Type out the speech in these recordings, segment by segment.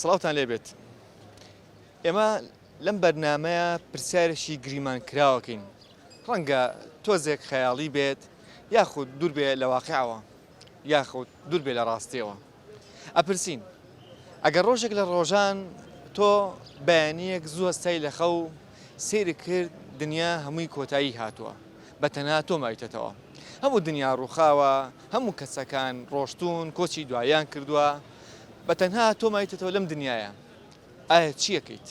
سڵاوتان لێ بێت ئێمە لەم بەرنمەیە پرسیارێکی گریمان کراوەکەین ڕەنگە تۆزێک خەیاڵی بێت یاخود دوور بێ لە واقعەوە یاخود دوور بێ لە ڕاستیەوە ئەپرسین، ئەگەر ڕۆژێک لە ڕۆژان تۆ بەیانییەک زوو هەستای لە خەو، سەیرت کرد دنیا هەمووی کۆتایی هاتووە، بە تەنها تۆ ماویتەتەوە. هەموو دنیا ڕووخاوە، هەموو کەسەکان ڕۆشتوون، کۆچی دواییان کردووە، بە تەنها تۆ ماویتەتەوە لەم دنیایە. ئایا چی ئەکەیت؟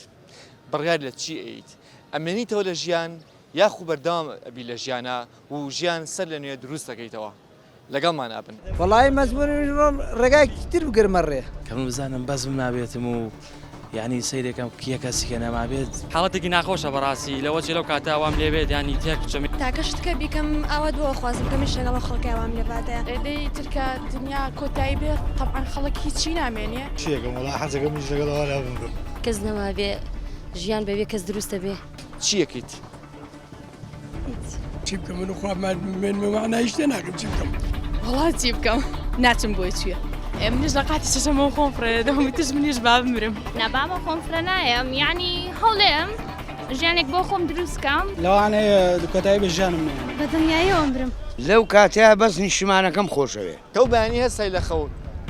بڕیار لە چی ئەیت؟ ئەمێنیتەوە لە ژیان یاخو بەردەوام ئەبیت لە ژیانا و ژیان سەر لە نوێ دروست ئەکەیتەوە؟ لەگەڵمانا بن. وەڵایی مەزموون منیش بڕۆم ڕێگایەکی تر بگرمە ڕێ. کە من بزانم بەزم نابێتم و یانی سەیرێ کەم کێ کەسی کە نەمابێت. حاڵەتێکی ناخۆشە بەڕاستی لەوە چی لەو کاتە وام لێ بێت یانی تێک بچم. تاکە شتکە بیکەم ئاوات بۆ ئەخوازم کە منیش لەگەڵ ئەو خەڵکەیا وام لێ باتە. دەی تر کە دنیا کۆتایی بێ تەبعەن خەڵک هیچی نامێنێ. چی ئەکەم وەڵا حەزەکەم منیش لەگەڵ ئەوانە بمرم. کەس نەمابێ ژیان بەبێ کەس دروستە بێ. چی ئەکەیت؟ چی بکەم من خوا مانای شتێ ناکەم چی بکەم وڵا چی بکەم ناچم بۆی چییە؟ منیش لە قاتی شەشەمە خۆم فرێ دەمی تش منیش با بمرم نابامە خۆم فرە نایەم ینی هەڵێم ژیانێک بۆ خۆم دروستکەم لەوانەیە دوکەتای بە ژیانم بە دنیایەوەم برم لەو کاتەیە بەس نیشتمانەکەم خۆشەوێ تۆ بەیانی هەستای لە خەو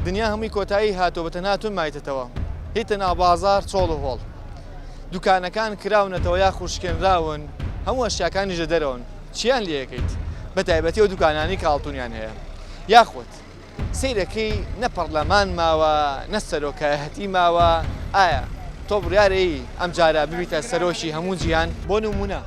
دنیا هەمووی کۆتایی هاتووە بە تەنها تۆ مایتەتەوە هیتە ناو بازار چۆڵ و هۆڵ دوکانەکان کراونەتەوە یاخود شکێنراون هەموو ئەشیاکانیش لە دەرەوەن چیان لێ ئەکەیت بە تایبەتی ئەو دوکانانەی کە ئاڵتونیان هەیە یاخود سەیرەکەی نە پەڕلەمان ماوە نە سەرۆکایەتی ماوە ئایا تۆ بڕیارەیی ئەمجارە ببیتە سەرۆکی هەموو جیهان بۆ نموونە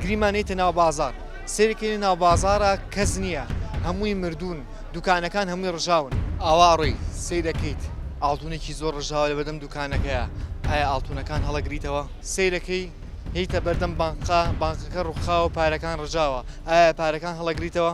گریمان هیتە ناو بازار سەیری کەینە ناو بازاڕا کەس نیە هەمووی مردوون دوکانەکان هەمووی ڕژاون. ئاوا ئەڕۆی سەیرەکەیت ئاڵتونێکی زۆر ڕژاوە لەبەردەم دوکانەکەیا ئایا ئاڵتونەکان هەڵەگریتەوە سەیرەکەی یتە بەردەم بانقا بانقەکە ڕوخاوە پارەکان ڕژاوە ئایا پارەکان هەڵەگریتەوە.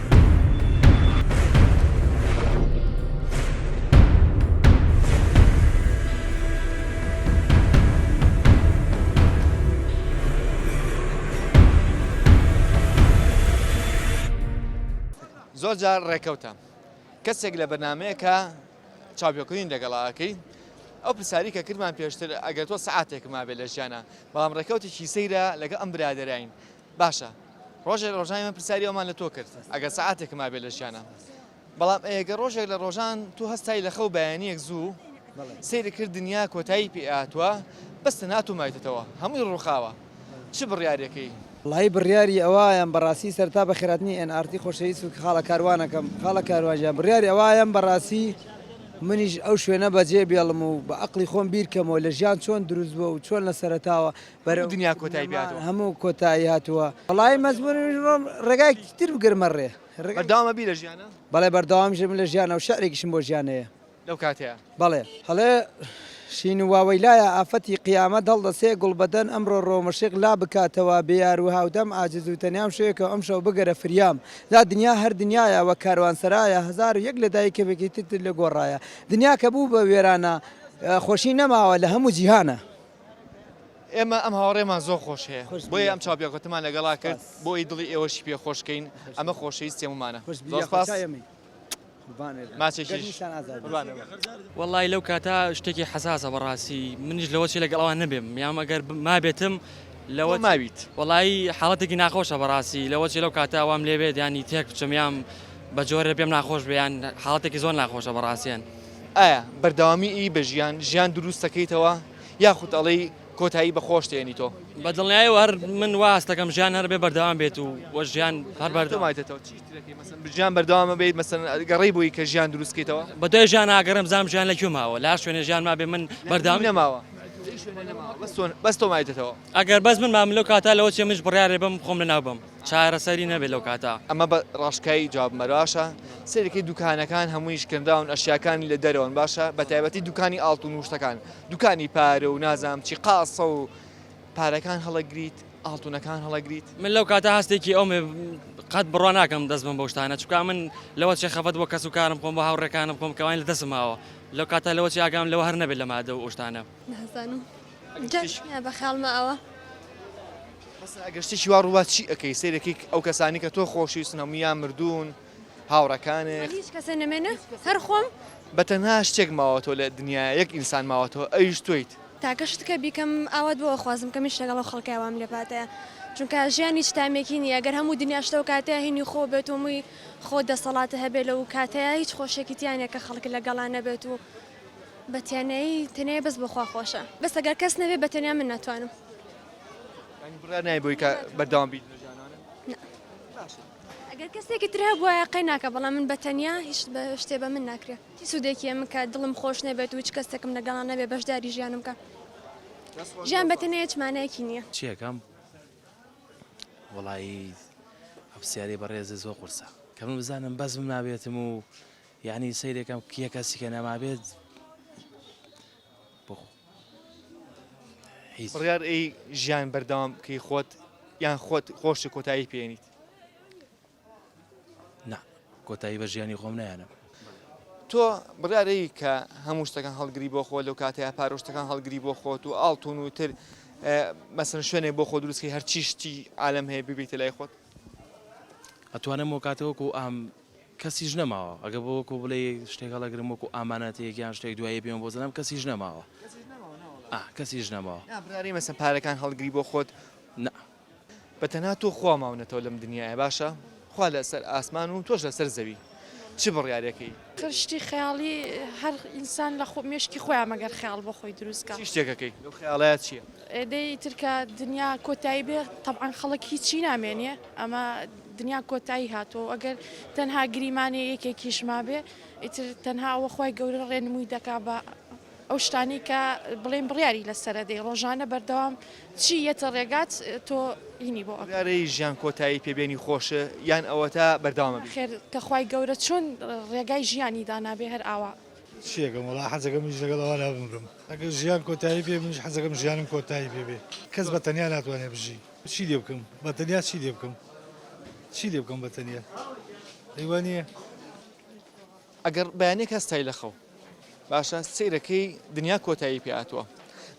زۆر جار ڕێکەوتە کەسێک لە بەنامەیەکە چاپیۆکردین لەگەڵاکەی ئەو پرسیاری کە کردمان پێشتر ئەگەر تۆ سعاتێک مابێت لە ژیانە بەڵام ڕێکەوتێکی سەیرە لەگە ئەم برادراین باشە ڕۆژێک لە ڕۆژان ئێمە پرسیاری ئەومان لە تۆ کرد ئەگەر سەعاتێکم مابێت لە ژیانم بەڵام ئەگەر ڕۆژێک لە ڕۆژان تۆ هەستای لە خەو بەیانیەک زوو سەیری کرد دنیا کۆتایی پێ هاتووە بەس تەنها تۆ مایتەوە هەمووی ڕووخاوە چ بڕیارێکەی؟ وەڵایی بڕیاری ئەوایەم بەڕاستی سەرتا بە خێراتنی ئێن ئارتی خۆشەویست و خاڵە کاروانەکەم خاڵە کاروان گیان بڕیاری ئەوایەم بەڕاستی منیش ئەو شوێنە بەجێ بێڵم و بە ئەقڵی خۆم بیر کەمەوە لە ژیان چۆن دروست بووە و چۆن لە سەرەتاوە بەرەو دنیا کۆتایی پێ هاتووە. هەموو کۆتایی هاتووە وەڵایی مەزموون ڕۆم ڕێگایەکی تر بگرمە ڕێ. بەردەوام ئەبی لە ژیانا؟ بەڵێ بەردەوامشم لە ژیانا و شعرێکیشم بۆ ژیان هەیە. لەو کاتەیە؟ بەڵێ. ئەڵێ، شین و واوەیلایە ئافەتی قیامەت هەڵدەسێ گوڵبەدەن ئەمڕۆ ڕۆمەشیق لا بکاتەوە بێ یار و هاودەم عاجز و تەنیام شوێکەوە ئەمشەو بگەرە فریام لا دنیا هەر دنیایە وەک کاروانسەرایە هەزار و یەک لە دایک کەمێکی ترت لە گۆڕایە دنیا کە بوو بە وێرانە خۆشی نەماوە لە هەموو جیهانە. ئێمە ئەم هاوڕێمان زۆر خۆش هەیە بۆیە ئەم چاوپێکەوتمان لەگەڵا کرد بۆی دڵی ئێوەشی پێ خۆشکەین ئەمە خۆشەویستی هەموومانە وەڵی لەو کاتە شتێکی حەساسە بەڕاستی منیش لەوە چی لەگەڵ ئەوان نەبێم یام ئەگەر مابێتم لەوە ماویت وەڵی حاڵەتێکی ناخۆشە بەڕاستی لەوە چی لەو کاتە وام لێبێت ینی تێک بچم یام بە جۆرە پێم ناخۆش بیان حاڵەتێکی زۆر ناخۆشە بەڕاستیان. ئایا بەردەوامی ی بە ژیان ژیان دروست دەکەیتەوە یاخود ئەڵێی کۆتایی بە خۆشت هێنیتۆ؟ بە دڵنیایەوە هەر من وا هەست دەکەم ژیان هەر بێ بەردەوام بێت و وە ژیان هەر بەردە. تۆ مایتەتەوە چیش ترەکەی مەسەن ژیان بەردەوامە بێیت مەسەن گەڕێی بۆی کە ژیان دروست کەیتەوە؟ بە دوای ژیان ئاگەڕێم بزانم ژیان لە کوێ ماوە لە هەر شوێنێ ژیان مابێ من بەردەوامی. نەماوە لە هیچ شوێنێ نەماوە بەس تۆ بەس تۆ مایتەتەوە. ئەگەر بەس من مام لەو کاتە لەوە چیە منیش بڕیارێ بەم خۆم لە ناو بەم. چارەسەری نەبێت لەو کاتە. ئەمە بە ڕاشکایی جواب مەرە باشە سەیرەکەی دوکانەکان هەمووی شکێنراون ئەشیاکانی لە دەرەوەن باشە بە تایبەتی دوکانی ئاڵتون وشتەکان دوکانی پارە و نازام چی قاسە و پارەکان هەڵەگریت ئاڵتونەکان هەڵەگریت من لەو کاتە هەستێکی ئەوم قەت بڕوا ناکەم دەست بم بەشتانە چکا من لەوە چێ خەفەت بۆ کەس و کارم خۆم بە هاوڕێکانم خۆم کەوانی لە دەسماوە لەو کاتە لەوە چیاگام لەوە هەر نەبێت لە مادە و ئۆشتانە. نازانم جاش نییە بە خیاڵمە ئەوە. مەسەلەن ئەگەر شتێکی وا ڕووبات چی ئەکەی؟ سەیر ئەکەی ئەو کەسانی کە تۆ خۆشویستن هەموویان مردوون، هاوڕێکانت. من هیچ کەسێ نەمێنێ هەر خۆم. بە تەنها شتێک ماوەتەوە لە دنیا، یەک ئینسان ماوەتەوە ئەویش تۆیت. تاکە شتکە بیکەم ئاوات بۆ ئەخوازم کەم هیچ لەگەڵ ئەو خەڵکەیا وام لێ پاتەیە چونکە ژیان هیچ تامێکی نییە گەر هەموو دنیاش لەو کاتەیا هینی خۆ بێت و مووی خۆ دەسەڵات هەبێت لەو کاتەیا هیچ خۆشێکی تیا نییە کە خەڵک لەگەڵا نەبێت و بە تەنیایی تەنیایی بەس بۆ خوا خۆشە بەس ئەگەر کەس نەبێ بە تەنیا من ناتوانم. یانی بڕیار نای بۆی کە بەردەوام بیت لە ژیانانە؟ نا. باشە. ئەگەر کەسێکی تر هەبوایە قەی ناکا بەڵام من بە تەنیا هیچ بە شتێ بە من ناکرێ چی سوودێکی ئەمن کە دڵم خۆش نەبێت و هیچ کەسێکم لەگەڵا نەبێ بەشداری ژیانم کا ژیان بە تەنیا هیچ مانایەکی نییە. چی ئەکەم؟ وەڵایی ئەو پرسیارەی بەڕێزت زۆر قورسە. کە من بزانم بەزمم نابێتم و یانی سەیرەکەم کێ کەسی کە نەمابێت بخۆ هیچ بڕیار ئەی ژیان بەردەوام بکەی خۆت یان خۆت خۆشی کۆتایی پێێنیت نا کۆتایی بە ژیانی خۆم نایەنم تۆ بڕارەی کە هەموو شتەکان هەڵگری بۆ خۆ لەو کاتەیە پارۆشتەکان هەڵگری بۆ خۆت و ئاڵتون و تر مەسن شوێنێ بۆ خۆ دروستکەی هەرچی شتی عالم هەیە ببیتە لای خۆت ئەتوانم و کاتەوەکو ئەم کەسیش نەماوە ئەگە بۆ وەکو بڵێ شتێک هەڵەگرم وەکو ئامانەتێک یان شتێک دوایی پێم بۆ زنم کەسیش نەماوە کەسیش نەماوە مەسە پارەکان هەڵگری بۆ خۆت نە بە تەنها تۆ خوا ماونەتەوە لەم دنیاە باشە خوا لەسەر ئاسمان و تۆش لەسەر زەوی چ بڕیارەکەی خشتی خەیاڵی هەر ئینسان لە خۆ مشکی خۆیان مەگەر خیاڵ بۆ خۆی دروستکە شتێکەکەی خیاڵات چیە دەی ترکە دنیا کۆتایی بێ تەعاان خەڵک هیچی نامێنێ ئەمە دنیا کۆتایی هاتووە و ئەگەر تەنها گریمانەی یەکێکیش مابێ، ئیتر تەنها ئەوە خوای گەورە ڕێنمووی دەکا بە ئەو شتانەی کە بڵێین بڕیاری لەسەرە دەی، ڕۆژانە بەردەوام چی یەتە ڕێگات تۆ هینی بۆ ئەکەی. بڕیارەی ژیان کۆتایی پێ بێنی خۆش یان ئەوەتا بەردەوام بی؟ نەخێر، کە خوای گەورە چۆن ڕێگای ژیانی دانابێ هەر ئاوا. چی ئەکەم وەڵا حەزەکەم منیش لەگەڵ ئەوانە بمرم. ئەگەر ژیان کۆتایی پێ بێ منیش حەزەکەم ژیانم کۆتایی پێ بێ. کەس بە تەنیا ناتوانێ بژی. چی لێ بکەم بە تەنیا چی لێ بکەم چی لێ بکەم بە تەنیا ئەی وا نییە؟ ئەگەر بەیانێک هەستای لە خەو باشە سەیرەکەی دنیا کۆتایی پێ هاتووە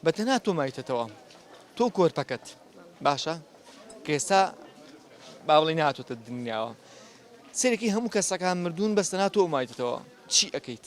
بە تەنها تۆ مایتەتەوە تۆ کۆرپەکەت باشە کە ئێستا با بڵێ نهاتوتە دنیاوە سەرێکی هەموو کەسەکان مردوون بەستەنا تۆ مایتەوە چی ئەەکەیت؟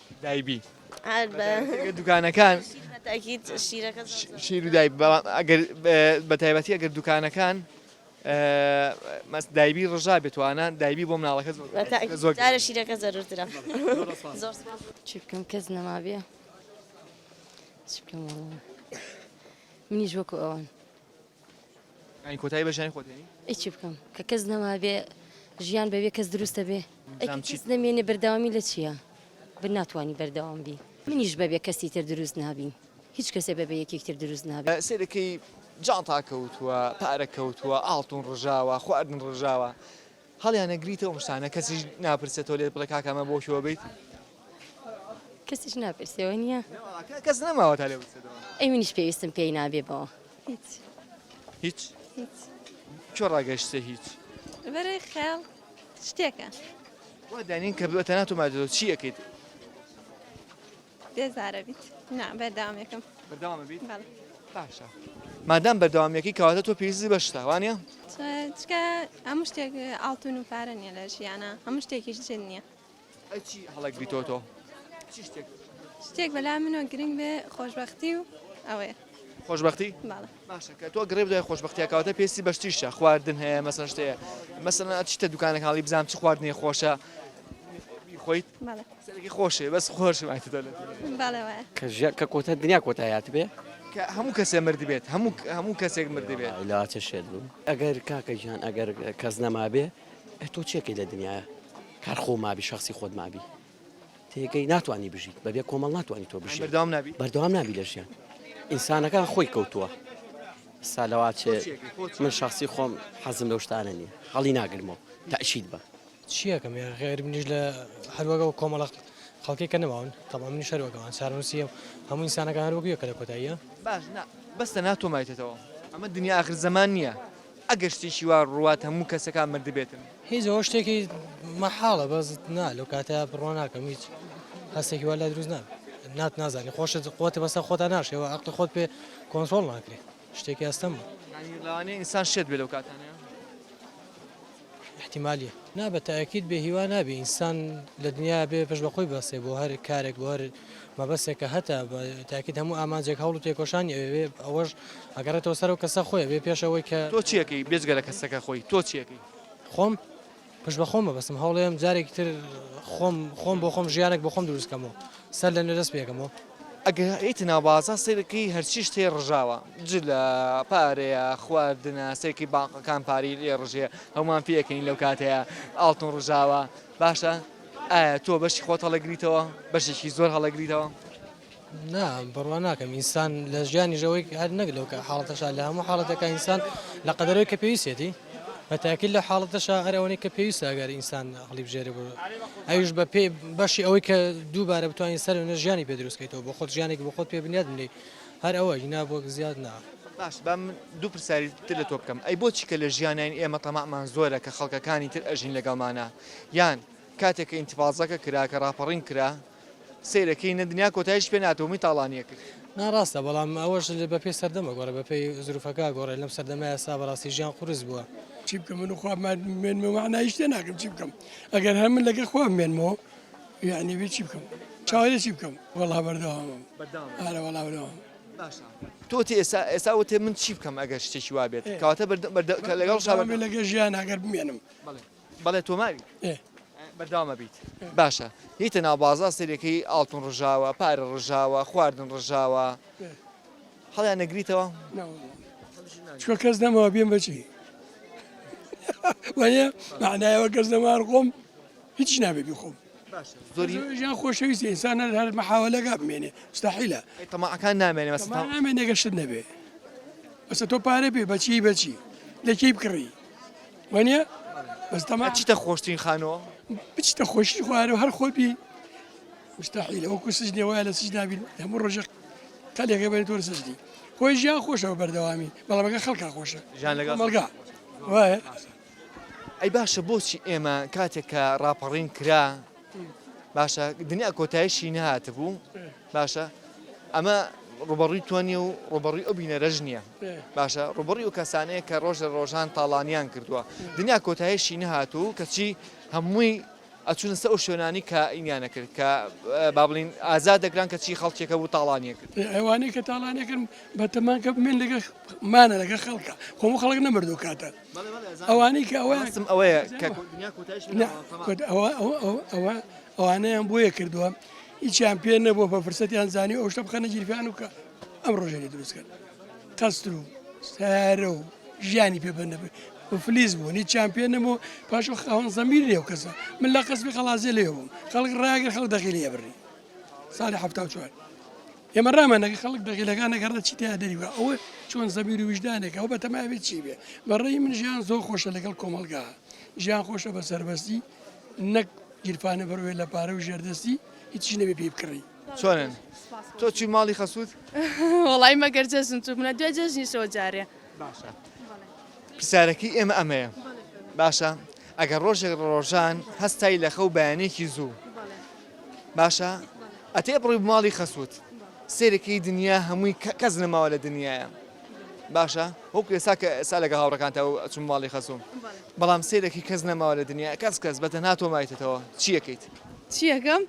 دای بی ئەگەر دوکانەکان شیر و دای بەتایبەتی ئەگەر دوکانەکان مەس دایبی ڕژا بێتوانە دایبی بۆ مناڵەکە زۆر شیرەکە زەرترە چی بکەم کەس نەمابێ منیش وەکو ئەوان ئەی کۆتایی بە ژیانی خۆت هێنی؟ ئەی چی بکەم کە کەس نەمابێ ژیان بەبێ کەس دروستە بێ؟ ئەی کە کەس نەمێنێ بەردەوامی لە چیە؟ بە ناتوانی بەردەوام بی. منیش بەبێ کەسی تر دروست نابین. هیچ کەسێ بەبێ یەکێک تر دروست نابێ. سەیرەکەی جانتا کەوتووە، پارە کەوتووە، ئاڵتون ڕژاوە، خواردن ڕژاوە، هەڵیانەگریتەوە ئەم شتانە کەسیش ناپرسێ تۆ لێت بڵێ کاکە ئەمە بۆ کوێوە بیت؟ کەسیش ناپرسێ وە نیە؟ نەوەڵا کەس نەماوە تا لێ بپرسێ دەوام. ئەی منیش پێویستم پێی نابێ بەوە هیچ. هیچ؟ هیچ. کوێ ڕاگەشتیتە هیچ؟ بەرەی خەیاڵ شتێکە. وا دانێین کە بتەنها تۆ ماویتەوە چی ئەکەیت؟ بێزارە بیت نا بەردەوام یەکەم بەردەوام بیت بەڵێ باشە مادام بەردەوامیەکەی کەواتە تۆ پێویستی بە شتە وانە چکە هەموو شتێک ئاڵتون و پارە نیە لە ژیانە هەموو شتێکیش جن نییە ئەچی هەڵک بیتۆ تۆ چی شتێک شتێک بەلا منۆ گرنگ بێ خۆشببختی و ئەوەیە خۆشببختی باڵە باشە کە تۆ گڕێ بدوای خۆشبەختیا کەواتە پێستی بەشتیشە خواردن هەیە مەسەن شتەیە مەسەن ئەچیتە دوکانە کاڵی بزانام چ خواردنی خۆشە خۆیت سەرەکی خۆشێ بەس خۆش کە ژە کە کۆتە دنیا کۆتایات بێ کە هەموو کەسێ مرد بێت هەموو هەموو کەسێک مرد بێت لاچە شێت بوو ئەگەر کاکە ژیان ئەگەر کەس نەمابێ تۆ چێکی لە دنیاە کار خۆ مابی شخصی خۆت مابی تێکەی ناتوانی بژیت بەبێ کۆمەڵ ناتوانانی تۆ بژی بەردەوام نابی لە ژیان ئینسانەکان خۆی کەوتووە سالەواچێ من شخصی خۆم حەزم لەو شتانە نیە هەڵی ناگرمەوە تاشید بە چیەکەم غێر منیش لە هەروەگە و کۆمەڵق خەڵکی کە نەماون تەڵام منی شەروەکەمان سارنووسیم هەموو ئینسانەکان هەروەگویە کە لە کۆتاییە باش بەستە ناتۆمایتەوە ئەمە دنیا ئاخر زەمان نییە ئەگەر شتێکی وا ڕوات هەموو کەسەکان مردبێتن. هیچ ئەوە شتێکی مەحاڵە بەس نا لەو کاتە بڕوا ناکەم هیچ هەستێکی وا لای دروست نابێت نات نازانی خۆشت خۆت بەسەر خۆتا ناشێ و عەقڵی خۆت پێ کۆنترۆڵ ناکرێ شتێکی ئەستەمە یانی لەوانەیە ئینسان شێت بێ لەو کاتانەیا. احتمالیە نا بە تاکید بێ هیوا نابی ئینسان لە دنیا بێ پش بەخۆی بەسێ بۆ هەر کارێک بۆ هەر مەبەسێکە هەتا تاکیت هەموو ئامانجێک هەوڵ و تێکۆشانی ئەوێ ئەوەش ئەگەڕێتەوە سەر و کەسە خۆی بێ پێشەوەی کە تۆ چیەکەی بێجگە لە کەسەکە خۆی تۆ چیەکەی خۆم پش بە خۆمە بەسم هەوڵێم جارێکی تر خۆم خۆم بۆ خۆم ژیانێک بۆ خۆم دروستکەمەوە سەر لە نوێ دەست پێکەمەوە. ئەگەر هەیتە ناو بازاڕ سەیربکەی هەرچی شتێ ڕژاوە جلە پارەیە خواردنە سەیرکەی بانقەکان پارەی لێ ڕژێ هەمووان پێ ئەکەنین لەو کاتەیە ئاڵتون ڕژاوە باشە ئایا تۆ بەشی خۆت هەڵەگریتەوە بەشێکی زۆر هەڵەگریتەوە نا بڕوا ناکەم ئینسان لە ژیانی ژەوەی هەر نەک لەو کە حاڵەتەشا لە هەموو حاڵەتەکە ئینسان لە قەدەرەوەی کە پێویستێتی بە تاکید لە حاڵەتەشا هەر ئەوەنەی کە پێویستە ئەگەر ئینسان هەڵیبژێرێ بۆ ئەویش بە پێ بەشی ئەوەی کە دووبارە بتوانین سەر وێنە ژیانی پێ دروست بکەیتەوە بۆ خۆت ژیانێکی بۆ خۆت پێ بنیات بنێی هەر ئەوە ئینا بۆ زیاد نا. باش با من دوو پرسیاری تر لە تۆ بکەم، ئەی بۆچی کە لە ژیانین ئێمە تەماعمان زۆرە کە خەڵکەکانی تر ئەژین لەگەڵمانا؟ یان کاتێک کە ئینتفازەکە کرا، کە ڕاپەڕین کرا، سەیرەکەی نە دنیا کۆتایش پێ ناتەوە موی تاڵانیە کرد. نا ڕاستە بەڵام ئەوەش بەپێی سەردەم ئەگۆڕێ بەپێی زروفەکە ئەگۆڕێ لەم سەردەمە ئێستا بەڕاستی ژیان قورس بووە. چی بکەم من و خوا بمێنمەوە مەعنا هیچ تێ ناگەم چی بکەم ئەگەر هەر من لەگەڵ خوا بمێنمەوە یانی بێ چی بکەم چاوەرێ چی بکەم وەڵا بەردەوامم بەردەوام ئارە وەڵا بەردەوام باشە تۆ تێ ئێستا ئێستا وتێ من چی بکەم ئەگەر شتێکی وا بێت کەواتە بەردە کە لەگەڵ شاوێ لەگەڵ ژیان ئەگەر بمێنم بەڵێ بەڵێ تۆ ماویت بەردەوامە بیت باشە هیتە ناو بازار سەرەکەی ئاڵتون ڕژاوە پارە ڕژاوە خواردن ڕژاوە هەڵیان نەگریتەوە چوە کەس دەمەوە بێن بەچی وەە معنایەوە کەس دەمار خۆم هیچ نابێ بخۆم زۆری ژیان خۆشەویستی ئینسانە هەر مەحاولەگا بمێنێ مستحیلە تەماعەکان نامێنێ مەستا نامێنێگەشت نەبێ بەسە تۆ پارە بێ بەچی بەچی لەکەی بکڕی وانە بەستەما چیتە خۆشترین خانەوە بچتە خۆشی خوارەوە هەر خۆت بی مستحیل ئەو کوسش نێوایە لە سش نابین هەموو ڕۆژە تەلێکە بەێت تۆر سشتی خۆی ژیان خۆشەوە بەردەوامی بەڵامەکە خەڵکە خۆشە ژان لەگە مەڵگا وایە ئەی باشە بۆچی ئێمە کاتێک کە ڕاپەڕین کرا باشە دنیا کۆتایشی نەهاتبوو باشە ئەمە ڕوبەڕوی تۆ نیە و ڕوبەڕی ئەو بینەرەژ نییە باشە ڕوبڕی و کەسانەیە کە ڕۆژە ڕۆژان تاڵانیان کردووە دنیا کۆتایشی نەهات و کەچی هەمووی ئەچونە سە ئەو شوێنانی کە ئینیانە کرد کە بابلین ئازا دەگران کە چی خەڵکێکە بوو تاڵانیە کرد ئەوانەی کە تاڵانەکەن بەتەمانکە بمێن لەگە مانە لەگە خەڵکە خۆم خەڵک نەمردو کاتە ئەوانەی کە ئەویان سم ئەوەیە کە ئەوانەیان بۆیە کردووە هیچیان پێ نەبووە بە فرسەتیان زانانی ئەو شتە بخەنە گیرفیان و کە ئەم ڕۆژێنی دروستکرد تەستر و سارە و ژیانی پێ بەنەبێت فلیز بوو هیچ چمپیۆن نەبوو پاش خاوەن زەمیر لێو کەسە من لە قەسمی خەڵازێ لێ بووم خەڵک ڕاگە خەڵ دەخیلی ئەبری ساڵی ه چوار ئێمە ڕامانەکە خەڵک دەقیلەکانە گەڕە چی تیا دەریوە ئەوە چۆن زەبیر و ویژدانێک ئەو بە تەماوێت چی بێ بەڕێی من ژیان زۆر خۆشە لەگەڵ کۆمەلگا ژیان خۆشە بە سەربەستی نەک گیرفانە بەروێ لە پارە و ژێردەستی هیچی نەبێ پێی بکڕی چۆنن تۆ چی ماڵی خەسووت وڵی مەگەر جەژن تو منە دوێ جەژنیشەوە جارێ باشە پرسیارەکەی ئێمە ئەمەیە باشە ئەگەر ڕۆژێک ڕۆژان هەستای لەخە و بەیانێکی زوو باشە ئەتێ بڕی بماڵی خەسوت سێرەکەی دنیا هەمووی کە کەس نەماوە لە دنیاە باشە وەکو ئێسا کە ئێسا لەگە هاوڕەکانتە و چون ماڵی خەسوم بەڵام سێرەکی کەس نەماوە لە دنیا کەس کەس بەتە ناتۆ مایتەوە چیەکەیت چیەکەم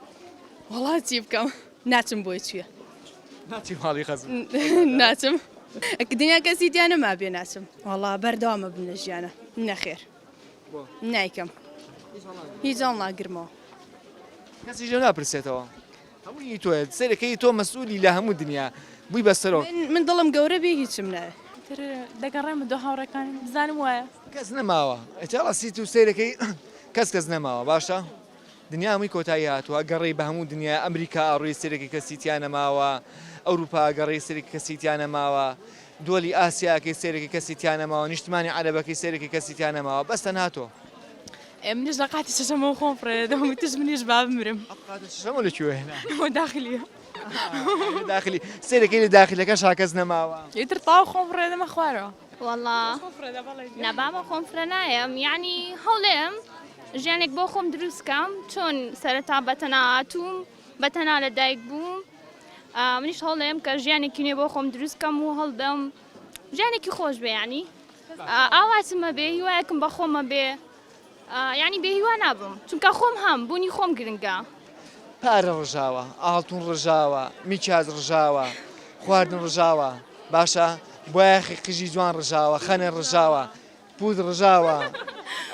وڵا چی بکەم ناچم بۆی چیە ناچی ماڵی خەز ناچم دنیا کەسی دیانە ما بێ ناچم وڵا بەردەوامە بنە ژیانە نەخێر نایکەم هیچ هەڵ ناگرمەوە کەسیش لێ ناپرسێتەوە هەمووی تۆ سەرەکەی تۆ مەسئولی لە هەموو دنیا بووی بەسەرۆک من دڵم گەورە بێ هیچم ناوێ تر دەگەڕێمە دۆ هاوڕەکانم بزانم وایە کەس نەماوە ئەچاڵە سیت و سەیرەکەی کەس کەس نەماوە باشە دنیا هەمووی کۆتایی هاتووە، گەڕی بە هەموو دنیا، ئەمریکا ئاڕووی سەرێکی کەسی تیا نەماوە، ئەوروپا گەڕی سەرێکی کەسی تیا نەماوە، دوەلی ئاسیاکەی سەرێکی کەسی تیا نەماوە، نیشتمانی عەرەبەکەی سەرێکی کەسی تیا نەماوە، بەس تەنها تۆ. ئێ منیش لە قاتی شەشەمەوە خۆم فڕێدەدەم و وتیش منیش با بمرم. ئەم قاتە شەشەمە لە کوێوە هێنا؟ ئەوە داخلیە. ئەوە داخلی. سەرێکی لە داخلەکەشا کەس نەماوە؟ ئیتر تەواو خۆم فڕێدەمە خوارەوە. وەڵا نا بابە خۆم فرە نایەم یعنی هەوڵێم ژیانێک بۆ خۆم دروستکەم چۆن سەرەتا بەتەنا هاتووم بەتەنا لە دایک بووم منیش هەوڵێم کە ژیانێکی نوێ بۆ خۆم دروستکەم و هەڵبم ژیانێکی خۆش بێ ینی ئاواتمە بێ هیوایەکم بە خۆمە بێ یانی بێهیوا نابم چونکە خۆم هەم بوونی خۆم گرنگە. پارە ڕژاوە، ئاڵتون ڕژاوە، میکیاج ڕژاوە، خواردن ڕژاوە، باشە بایەخی قژی جوان ڕژاوە، خەنە ڕژاوە، پووت ڕژاوە،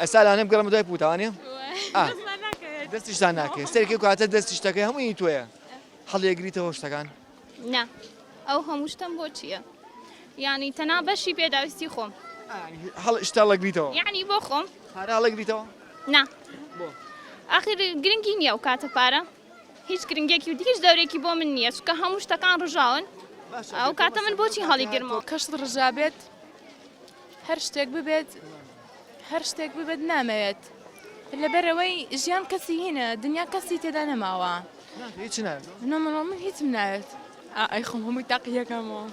ئەستا لانێ بگەڕێمە دوای پووت ئەوانیە؟ دەستیشتان ناکەوێت سەرکەی کاتە دەستی شتەکەی هەمووی تۆیە هەڵیەگریتەوە شتەکان. نا ئەو هەموو شتەم بۆ چیە یانی تەنا بەشی پێداویستی خۆم هەڵ شتا ڵەگریتەوە یعنی بۆ خۆم پارە ڵەگریتەوە نا ئاخر گرنگی نییە و کاتە پارە هیچ گرنگێکی و دیش دەورێکی بۆ من نییە چکە هەموو شتەکان ڕژاون ئەو کاتە من بۆچی هەڵی گرمەوە کەشت ڕژابێت هەر شتێک ببێت هەر شتێک ببێت نامەوێت لەبەرەوەی ژیان کەسی هینە دنیا کەسی تێدا نەماوە هیچ ناوێت نەمەڵۆ من هیچم ناوێت ئای خۆم هەمووی تاقیەکەمەوە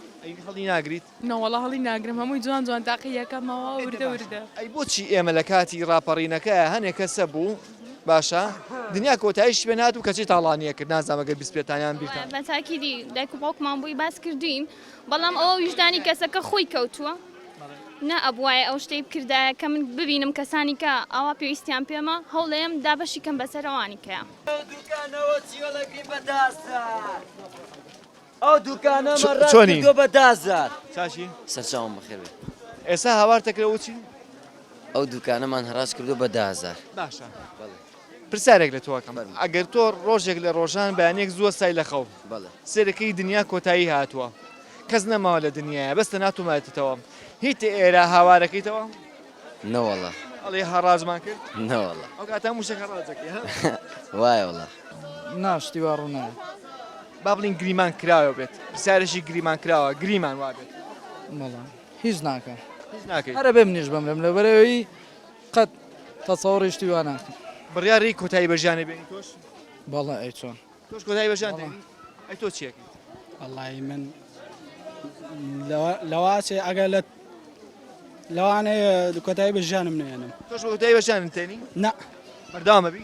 هەڵی ناگریت نەوەڵە هەڵی ناگرم هەمووی جوان جوان تاقیەکەمەوە وردە وردە ئەی بۆچی ئێمە لە کاتی ڕاپەڕینەکە هەنێک کەسە بوو باشە دنیا کۆتایش پێ نات و کەچی تاڵانیە کرد نازانەگە بیست پێتانیان بیرتان تاکیدی دایک و باوکمان بووی باس کردین بەڵام ئەوە ویژدانی کەسەکە خۆی کەوتووە نە ئەبوایە ئەو شتەی بکردایە کە من ببینم کەسانی کە ئاوا پێویستیان پێمە هەوڵەیەم دابەشی کەم بەسەرەوانی کەە ئەو دوکانە چۆنی بە دازار چاشی سەرچاوم بەخێر ئێستا هاوارتەکرەوە چی ئەو دوکانەمان هەراج کردو بە دازار باشە پرسیارێک لە تۆ ئەکەم ئەگەر تۆ ڕۆژێک لە ڕۆژان بەیانێک زوو وەستای لە خەو سێر ئەکەی دنیا کۆتایی هاتووە کەس نەماوە لە دنیایە بەس تەنها تۆ مایەتەوە هیت ئێرە هاوار ئەکەیتەوە؟ نەوەڵا. ئەڵێی هەڕاجمان کرد؟ نەوەڵا. ئەو کاتە هەموو شتێک هەڕاج ئەکەی ها؟ وایە وەڵا. نا شتی وا ڕوو نایە. با بڵێین گریمان کراوە بێت پرسیارێکی گریمان کراوە گریمان وابێت؟ بەڵێ هیچ ناکەم. هیچ ناکەی. ئەرە بێ منیش بمرم لەبەر ئەوی قەت تەسەوڕی شتی وا ناکەم. بڕیاری کۆتایی بە ژیانت بێنی تۆش؟ بەڵێ ئەی چۆن؟ تۆش کۆتایی بە ژیانت دێنی؟ ئەی تۆ چی ئەکەی؟ وەڵایی من لەوا چێ ئەگەر لە لەوانەیە کۆتایی بە ژیانم نەیەنم. تۆش کۆتایی بە ژیانت دێنی؟ نا. بەردەوام ئەبی؟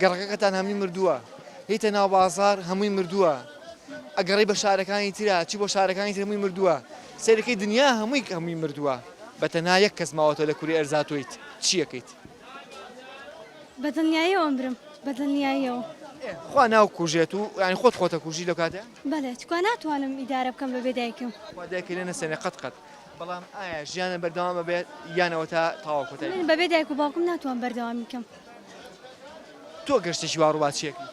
گەڕەکەکەتان هەمووی مردووە هیتە ناو بازار هەمووی مردووە ئەگەڕی بە شارەکانی ترا چی بۆ شارەکانی تر هەمووی مردووە سەیرەکەی دنیا هەمووی هەمووی مردووە بە تەنها یەک کەس ماوەتەوە لە کوری ئەرزا تۆیت چیەکەیت. بە دڵنیایەوە ئەمرم بە دڵنیایەوە. خوا ناو کوژێت و یانی خۆت خۆتە کوژی لەو کاتە. بەلێ تکوا ناتوانم ئیدارە بکەم بەبێ دایکم. خوا دایکە لێ نەسێنێ قەت قەت. بەڵام ئایا ژیانم بەردەوام ئەبێت یان ئەوەتا تەواو کۆتایی من بەبێ دایک و باوکم ناتوانم بەردەوامی بکەم. تۆ گەر شتێکی وا ڕووبات چی ئەکەی؟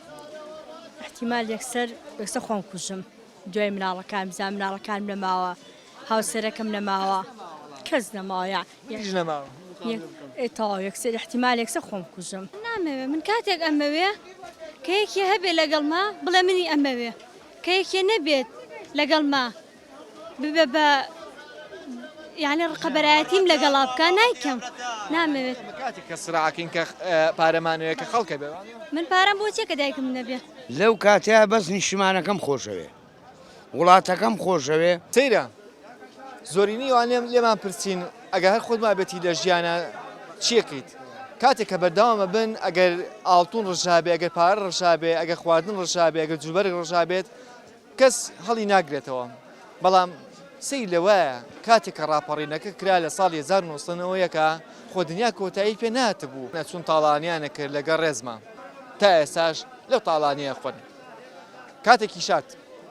ئیحتیمال یەکسەر یەکسەر خۆم کوژم دوای مناڵەکانم بزانم مناڵەکانم نەماوە هاوسەرەکەم نەماوە کەس نەماوە یان هیچ نەماوە یەک ئێ تەواو یەکسەر ئیحتیمال یەکسەر خۆم کوژم. نامەوێ من کاتێک ئەمەوێ کە یەکێ هەبێ لەگەڵما بڵێ منی ئەمەوێ کە یەکێ نەبێت لەگەڵما ببێ بە یانە ڕقەبەرایەتیم لەگەڵا بکە نایکەم نامەوێت کاتی کە سراکەین کە پارەمانەیە کە خەڵکە بێ من پارەم بۆ چێکە دایکم نەبێ لەو کاتەیە بەس نیشتمانەکەم خۆشەوێ وڵاتەکەم خۆشەوێ سەیرە زۆرینی وانێم لێمان پرسین ئەگە هەر خۆت مابێتی لە ژیانە چیەکەیت کاتێک کە بەرداوامە بن ئەگەر ئاڵتون ڕژابێ ئەگەر پارە ڕژابێ ئەگە خواردن ڕژابێ ئەگە جوبەر ڕژابێت کەس هەڵی ناگرێتەوە، بەڵام سەیر لەوەیە کاتێک کە ڕاپەڕینەکە کرا لە ساڵی هەزار و نۆ سەد و یەک خۆ دنیا کۆتایی پێ نەهاتبوو، ئەچوون تاڵانیان ئەکرد لەگەڵ ڕێزما تا ئێستاش لەو تاڵانیە ئەخۆن کاتێکی شاد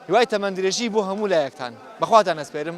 هیوای تەمەندرێژی بۆ هەموو لایەکتان بەخواتان ئەسپێرم.